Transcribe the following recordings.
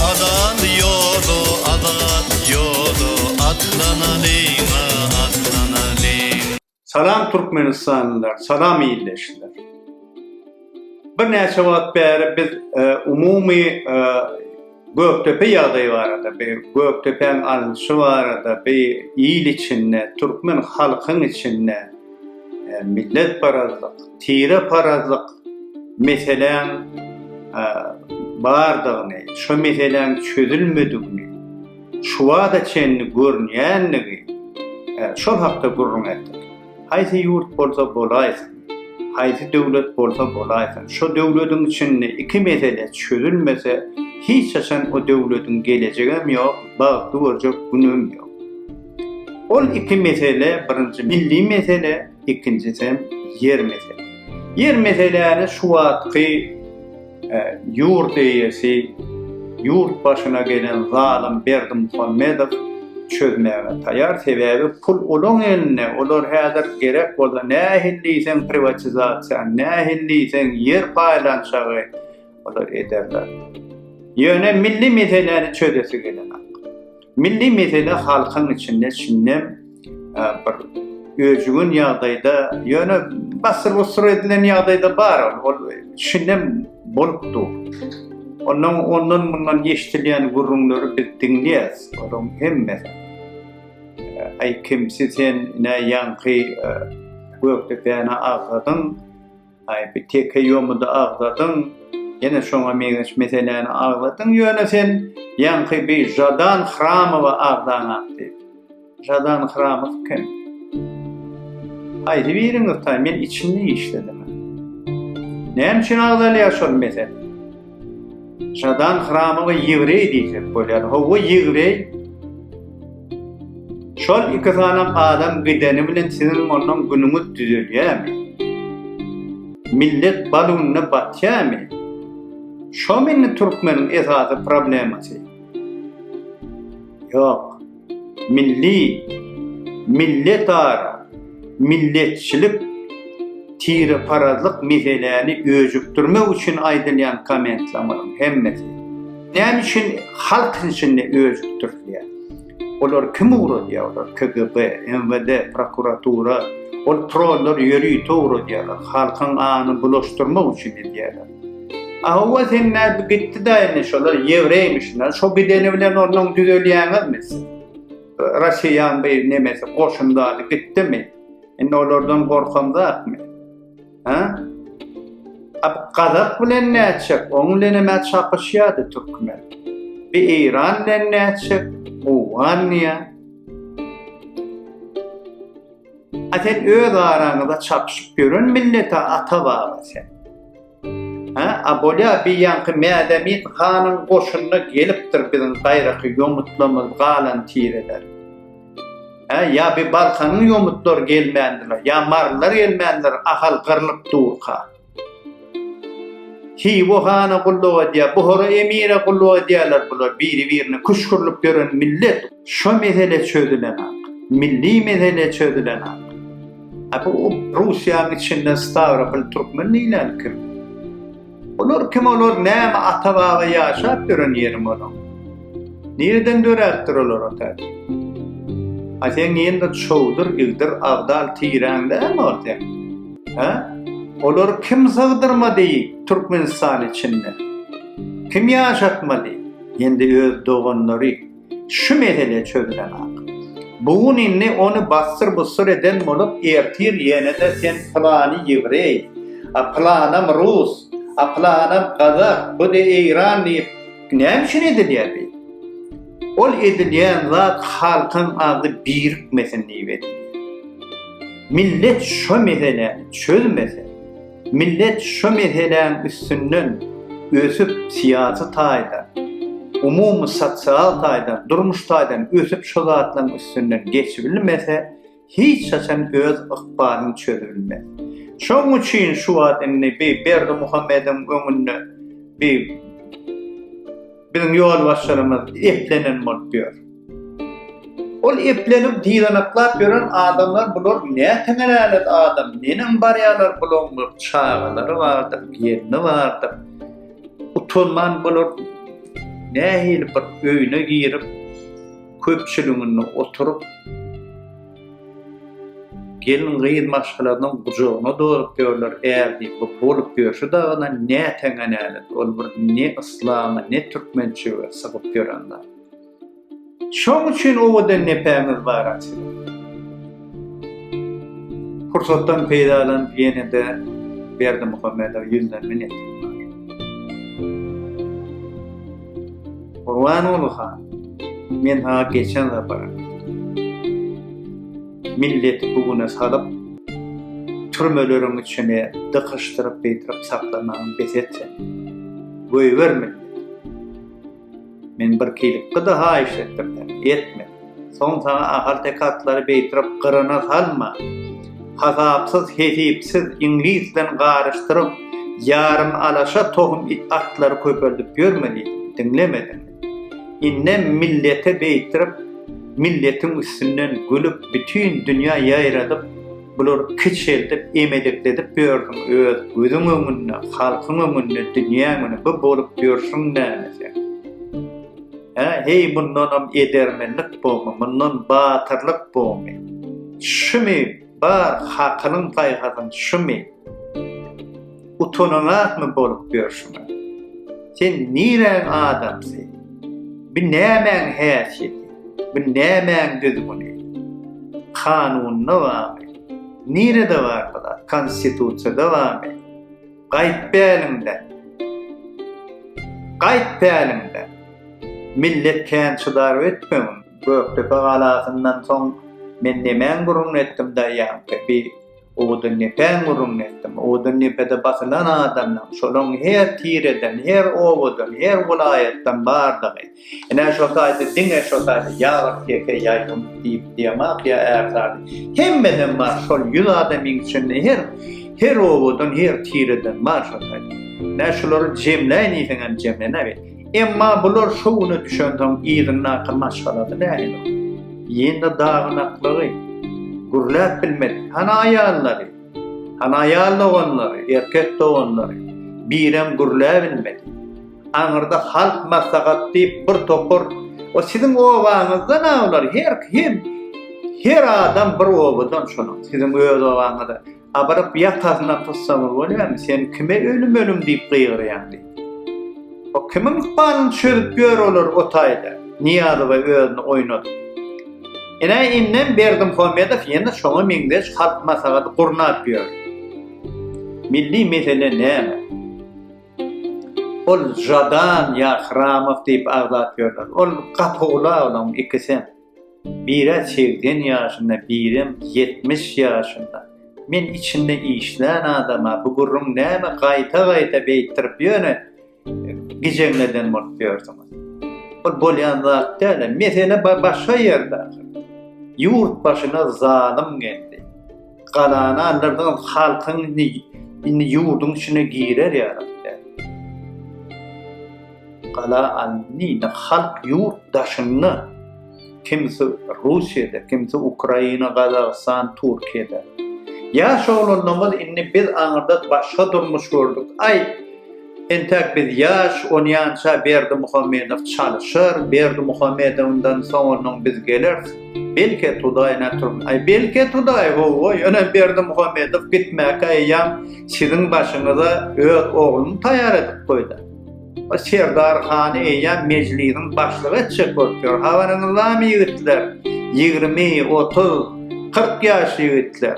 Azat ýoly, azat ýoly, atlanalyň-a, atlanalyň. Salam Türkmenistanlylar, salam ildeşler. Birnäçe wagt bäri biz umumy Gökdepe ýagdaýy barada, bi Gökdepäň alnyşy barada, bi il içinde, türkmen halkyň içinde milletparazlyk, tireparazlyk meseläň bardygyny, şu meseläň çözülmedigini şu wagta çenli görünýändigi şol hakda gürrüň etdik. Haýsy ýurt bolsa bolaýsyn, haýsy döwlet bolsa bolaýsyn, şo döwlediň içinde iki mesele çözülmese, hiç haçan o döwlediň gelejegem ýok, bagtly görjek günügem ýok. Ol iki mesele, birinji milli mesele, ikinjisem ýer mesele. Ýer meseläni şu wagtky Ýurt eýesi, ýurt başyna gelen zalym Berdimuhamedow çözmäge taýar, sebäbi pul olaň elinde, olar häzir gerek bolsa nähili diýseň priwatizasiýa, nähili diýseň ýer paýlanşygy olar ederler. Ýöne milli meseläni çözesi gelenok. Milli mesele halkyň içinde çynnem bir öjügün ýagdaýda, ýöne basyr-busyr edilen ýagdaýda bar ol çynnem bolup dur. Ondan ondan mundan eşdilýän gürrüňleri biz diňleýäs. Olaryň hemmesi Aý kimsi sen, näýanky Gökdepäni agzadyň? Aý bir teke ýomudy agzadyň, ýene şoňa meňzeş meseläni agzadyň, ýöne sen ýaňky bir Žadan Hramowa agzaň atdy. Žadan Hramow kim? Haýsy biriňiz taý, men içinde işledim. Näme üçin agzalýar şol mesele? Şadan hramy we ýewreý diýsek bolýar. Howwa ýewreý. Şol iki sany adam gideni bilen siziň ondan günüňiz düzelýärmi? Millet balunda batýarmy? Şo meni türkmeniň esasy problemasy. Ýok. Milli, milletara, milletçilik, tireparazlyk meseläni öjükdirmek üçin aýdylýan kommentlamaryň hemmesi näme üçin halk içinde öjükdirilýär? Olar kim ugradýar? Olar KGB, MWD, prokuratura, ol trollar ýörite ugradýarlar, halkyň anyny bulaşdyrmak üçin edýärler. Awa sen nädip gitdi da indi şolar ýewreýmişler. Şo gideni bilen ondan düzelýäňizmi siz? Rasiýan bu nemesi goşundady gitdimi? Indi olardan gorkam zatmy? Ha? Ab Gazak bilen näçek? Oň bilen hem çapyşýardy türkmen. Bi Eýran bilen näçek? Owganýa. A sen öz araňyza çapyşyp ýören millete ata baba sen. Ha, a bolýa bi ýanky Mädemin hanyň goşunyna gelipdir biziň gaýraky ýomutlamyz galan tireler. Ha, ýa bi Balkanyň ýomutlar gelmändiler, ýa Marlar gelmändiler, Ahal gyrlyp durka. Hywa hana gulluk edýär, Buhara emire gulluk edýärler bular biri-birine küşgürlük dören millet. Şo mesele çözülenak, milli mesele çözülenak. A bu Russiýanyň içinde Stawropol türkmen diýlen kim? Olar kim olar näme ata-baba ýaşap ýören ýerim olaň. Nireden döräpdir olar otel? A sen nirende çowdur, igdir, agdal, tiren dämi ol sen? Hä? Olar kim sygdyrmady Türkmenistan içinde? Kim ýaşatmady? Indi öz doganlary şu mesele çözülen ak. Bu gün indi onu bassyr bussur eden bolup ertir ýene de sen plany ýewreý, a planam rus, a planam gazak, bu de eýran diýip Näme üçin edilýär diýip. Ol edilýän zat halkyň agzy birikmesin diýip edilýär. Millet şo meseläni çözmese, millet şo meseläň üstünden ösüp syýasy taýdan, umumy sosial taýdan, durmuş taýdan ösüp şo zatlaryň üstünden geçibilmese, hiç haçan öz ykbalyň çözülmez. Şoň üçin şu wagt indi bi Berdimuhamediň öňünde bi biziň ýolbaşçylarymyz eplenen bolup ýör. Ol eplenip dyzanaklap ýören adamlar bular näteňel älet adam, neneň barýarlar bulaň bir çagalary bardyr, gelni bardyr. Utanman bular nähili bir öýüne girip köpçüliginde oturyp, gelin-gyz maşgalasynyň gujagyna dozup ýörler, ärdi bu bolup ýörşi dagyna näteňe nälet, ol bir ne yslama, ne türkmençilige sygyp ýören zat. Şoň üçin owadan nepämiz bar aslynda. Pursatdan peýdalanyp ýene-de Berdimuhamedow ýüzden minnetdar. Gurbanguly han, men saňa geçen sapar milleti bu güne salyp, türmeleriň içine dykyşdyryp, beýtirip saklamagyňy bes et sen. Goýber milleti. Men bir kilipgi-de haýyş etdim, sen etme. Soň saňa ahalteke-atlary beýtrek gyryna salma. Hasapsyz, hesipsiz, iňlis bilen garyşdyryp, ýarym alaşa tohum atlary köpeldip ýörme diýdim. Diňlemediň. Indem millete beýtrek, milletiň üstünden gülüp, bütin dünýä ýaýradyp, Bular kiçeldip, emedekledip ýörsüň öz gözüň öňünde, halkyň öňünde dünýä müni bu bolup ýörsüň näme sen? Hä, heý mundanam edermenlik bormy, mundan batyrlyk bormy? Şumy bar hakylyň-paýhasyň, şumy? Utananakmy bolup ýörşüňä? Sen niräň adamsy? Bu nämäň häsiýeti? Bu nämäň düzgüni? Kanunda barmy? Nirede bar bu zat? Konstitusiýada barmy? Gaýt päliňden! Gaýt päliňden! Millet kän çydar ötmegin. Gökdepe galasyndan soň men nemäň gürrüň etdim daýaňky? Bi Owadan depäň gürrüňini etdim. Owadan depede basylan adamlaň, şolaň her tireden, her obadan, her welaýatdan bardygy. Ine, şo taýda diňe şo taýda ýagyr teke ýaýlym diýip diýemok ýa ärsady. Hemmeden bar, şol ýüz adamyň içinde her her obadan, her tireden bar şo taýda. Nä şulary jemläýin diýseň hem jemlenäýer. Emma bular şo güne düşensoň yzyndaky maşgalasy nähili? Ýene daganaklygy, gürläp bilmedi. Hany aýallary? Hany aýal doganlary, erkek doganlary? Birem gürläbilmedi. Aňyrda halk maslahat diýip bir topar O siziň obaňyzdan awlar, her kim, her adam bir obadan şonuň, siziň öz obaňyzdan. Abyryp ýakasyna tutsaňyz bolýamy, sen kime ölüm ölüm diýip gygyrýaň diýip. O kimiň ykbalyny çözüp ýör olar o taýda. Niýazowa özüni oýnadyp. Ine indem Berdim Homedow ýene şoňa meňzeş halk maslahaty gurnap ýör. Milli mesele näme? Ol Jadan ýa Hramow diýip agzap ýörler. Ol gapygula olaň ikisem. Bire segsen ýaşynda, birem ýetmiş ýaşynda. Men içinde işlän adama bu gürrüň näme gaýta-gaýta beýtdirip ýöne gijeňleden bolup ýörsüňiz. Bul bolýan zat däl-ä. Mesele başga ýerde ahyr. Ýurt başyna zalym geldi. Galany aldyrdyňyz, halkyň indi, indi ýurduň içine girer ýaly däl. Gala alyndy, indi halk ýurt daşynda, kimsi Russiýada, kimsi Ukraina, Gazagystan, Türkiýede. Ýaş oglanlarymyz indi biz aňyrda başga durmuş gördük, aý, Entäk biz ýaş, onýança Berdimuhamedow çalyşar, Berdimuhamedowyndan soňundan biz geleris. Belki Tudaý nätürn. Aý, belki Tudaý, ho-oý, ine Berdimuhamedow gitmäki eýýam siziň başyňyza öz ogluny taýýar edip goýdy. O Serdar hany eýýäm Mejlisiň başlygy etjek bolup ýör. Habaryňyzdamy, ýigitler? Ýigrimi, otuz, kyrk ýaşly ýigitler.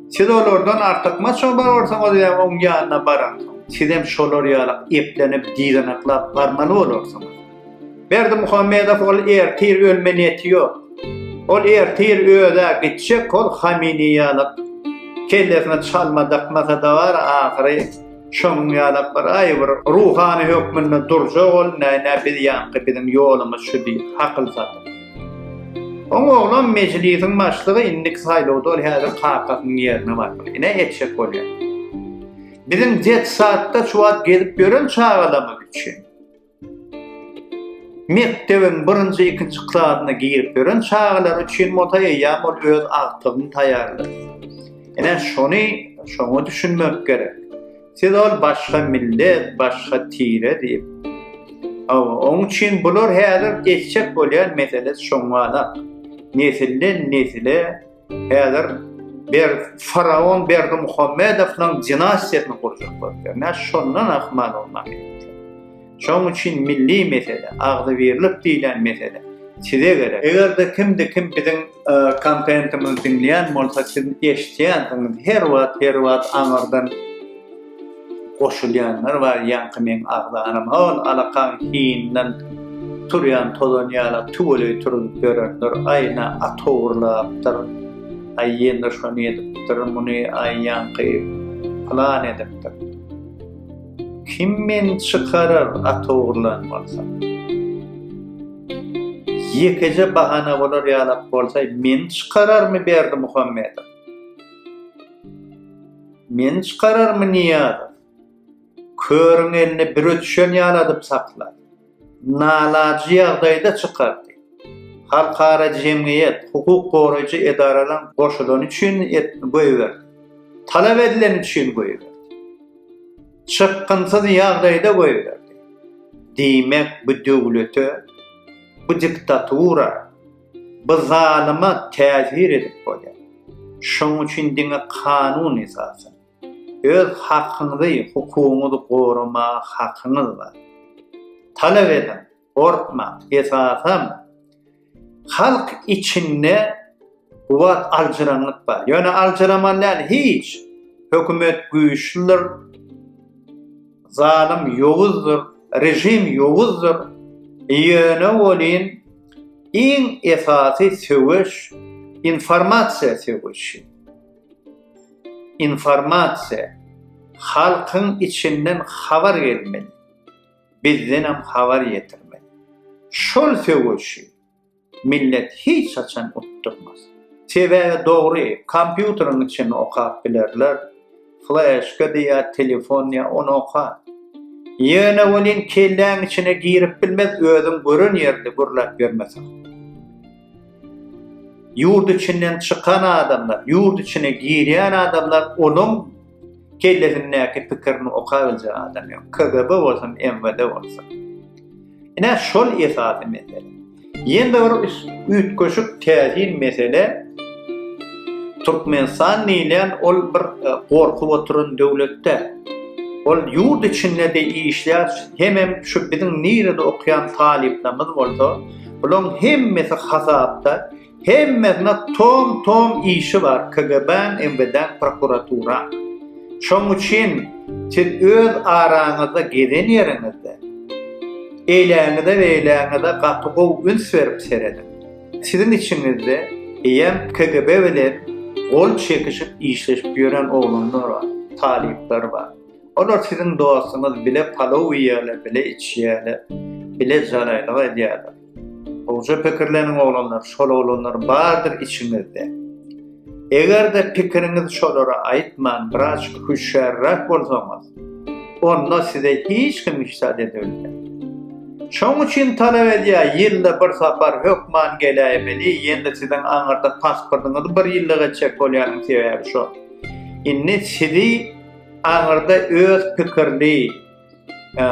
Siz olardan artykmaç oba barsaňyz we oň ýanyna baransoň, sizem şolar ýaly eplenip, dyzanaklap barmaly bolarsyňyz. Berdimuhamedow ol ertir ölme neti ýok. Ol ertir öz-ä gitjek, ol Hamini ýaly kellesine çalma dakmasa-da bar, ahyry şonuň ýaly bir aý bir ruhany hökmünde durjak ol, näýne biz ýaňky biziň ýolumyz şu diýip, hakyl satyp. Oň oglam mejlisiň başlygy indiki saýlawda ol häzir kakasynyň ýerine barmaly. Ine etjek bolýar. Biziň detsatda şu wagt gezip ýören çagalarymyz üçin mekdebiň birinji ikinji klasyna girip ýören çagalar üçin bolsa eýýäm ol öz agtygyny taýýarlar. Ine şony şoňa düşünmek gerek. Siz ol başga millet, başga tire diýip. Hawa, oň üçin bular häzir geçjek bolýan meseles şoňalak. Nesilden nesile häzir ber faraon Berdimuhamedowyň dinastiýasyny gurjak bolýar. Nä şondan ahmal olmak etdi. Şoň üçin milli mesele, agzybirlik diýlen mesele size gerek. Eger-de kimde kim biziň Kontentimizi diňleýän bolsa siz eşitýänsiňiz her wagt her wagt aňyrdan goşulýanlar bar ýaňky meň agzanym ol alakaň hiňinden turýan tozan ýala tüweleý turup ýörenler aýna atowurlapdyr aý ýene şony edipdir muny aý ýaňky plan edipdir Kim meni çykarar at ogurlan bolsam? Ýekeje bahana bolar ýalak bolsa, meni çykararmy Berdi Muhammedow? Meni çykararmy Niýazow? Körüň elini bire düşen ýaladyp saklar. nalaýyk ýagdaýda çykardy. Halkara jemgyýet, hukuk goraýjy edaralaryň goşulany üçin goýberdi. Talap edileni üçin goýberdi. Çykgynsyz ýagdaýda goýberdi. Diýmek, bu döwlete, bu diktatura, bu zalyma täsir edip bolýar. Şonuň üçin diňe kanun esasy. Öz hakyňyzy, hukugyňyzy goramaga hakyňyz bar. Talap ediň, gorkmaň. Esasam, halk içinde bu wagt aljyraňlyk bar. Ýöne aljyraman däl, hiç. Hökümet güýçlüdir, zalym ýowuzdyr, režim ýowuzdyr. Ýöne welin, iň esasy söweş, informasiýa söweşi. Informasiýa halkyň içinden habar gelmeli, bizdenem habar ýetirmeli. Şol söweşi millet hiç haçan utdurmaz. Sebäbi dogry, kompýuteriň içini okap bilerler, fleşka diýýä, telefon diýýä, ony okar. Ýöne welin kelläň içine girip bilmez, özüň gören ýerde gürläp ýörmeseň. Ýurt içinden çykan adamlar, ýurt içine girýän adamlar onuň kellesindäki pikirini oka biljek adam ýok. KGB bolsun, MWD bolsun. Ine şol esasy mesele. Ýene-de bir üýtgeşik täsin mesele Türkmenistan diýlen ol bir e, gorkup oturan döwletde ol ýurt içinde de işleýär, hemem şu biziň nirede okyan talyplarymyz bolsa, Bulaň hemmesi hasapda, hemmesine tom tom işi bar KGBaň MWDaň prokuraturaň. Şoň üçin siz öz araňyzda gezen ýeriňizde eýläňize beýläňize gaty gowy üns berip serediň. Siziň içiňizde eýýäm KGB bilen gol çekişip işleşip ýören oglanlar bar, talyplar bar. Olar siziň dostuňyz bile palow iýýärler, bile içýärler, bile jalaýlyk edýärler. Gowja pikirleniň oglanlar, şol oglanlar bardyr içiňizde. Eger-de pikiriňizi şolara aýtman biraz hüşgärräk bolsaňyz, onda size hiç kim işdä dede bilmez. Şoň üçin talap edýär, ýylda bir sapar hökman geläýmeli, ýene-de siziň aňyrda pasportyňyzy bir ýylda geçjek bolýanyň sebäbi şo. Indi sizi aňyrda öz pikirli, e,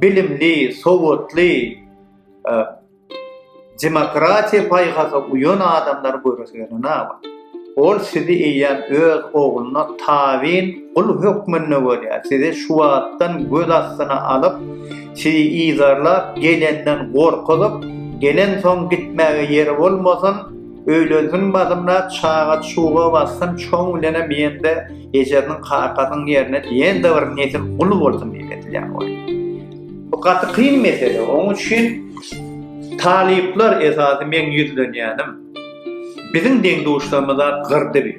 bilimli, sowatly, e, demokratiýa paýhasa uýan adamlar görüsüne näme? Ol sizi eýýäm öz ogluna tabyn gul hökmünde görýär. Sizi şu wagtdan göz astyna alyp, sizi ýygarlap, gelenden gorkuzyp, gelen soň gitmäge ýeri bolmasyn, Öýlensin basymda çaga çuga bassyn çoň bilenem ýende ejesiniň kakasynyň ýerine ýende bir nesil gul bolsun diýip edilýän oý. Bu gaty kyn mesele. Oň üçin talyplar esasy meň ýüzlenýänim biziň deň-duşlarymyza gyrdy bi.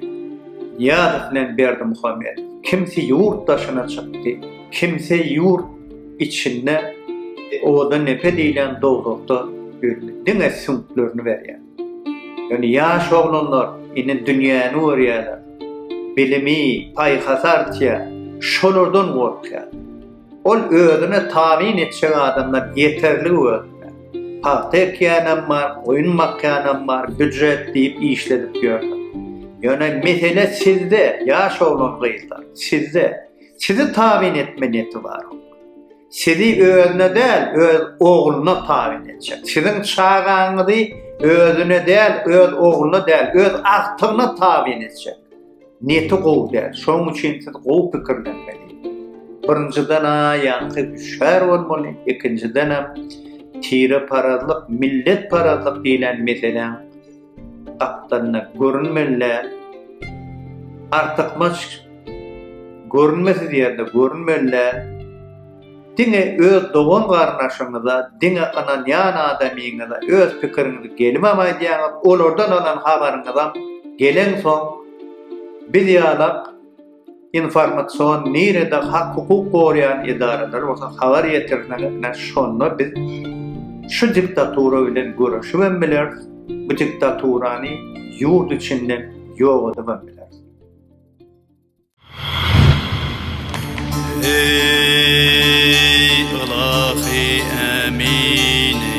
Nyýazow bilen Berdimuhamedow. Kimsi ýurt daşyna çykdy, kimsi ýurt içinde oda nepe diýlen dowzahda ýördi. Diňe süňklerini berýär. Ýöne ýaş oglanlar indi dünýäni görýärler, bilimi, paýhasy artýar, şolardan gorkýar. Ol özüne tabyn etjek adamlar ýeterlik özünde. Pagta ekýänem bar, goýun bakýanam bar, býujet diýip işledip ýörler. Ýöne mesele sizde, ýaş oglan-gyzlar, sizde. Sizi tabyn etme neti barok. Sizi özüne däl, öz ogluna tabyn etjek. Siziň çagaňyzy özüne däl, öz ogluna däl, öz agtygyna tabyn etjek. Neti gowy däl. Şonuň üçin siz gowy pikirlenmeli. Birinjiden, aýaňky düşär bolmaly, ikinjiden hem tire parazlyk, millet parazlyk diýlen meseläň Gapdalynda görünmeli artykmaç görünmesiz ýerde görünmeli diňe öz dogan garyndaşyňyza diňe ynanýan adamyňyza öz pikiriňizi gelimem aýdýaňyz olardan alan habaryňyzam gelensoň biz ýalak Informasion nirede hak hukuk gorýan edaralar bolsa habar ýetirseňizne şonda biz şu diktatura bilen göreşibem bileris bu diktaturany ýurt içinden ýok edibem bileris. Eý ylahy ämini.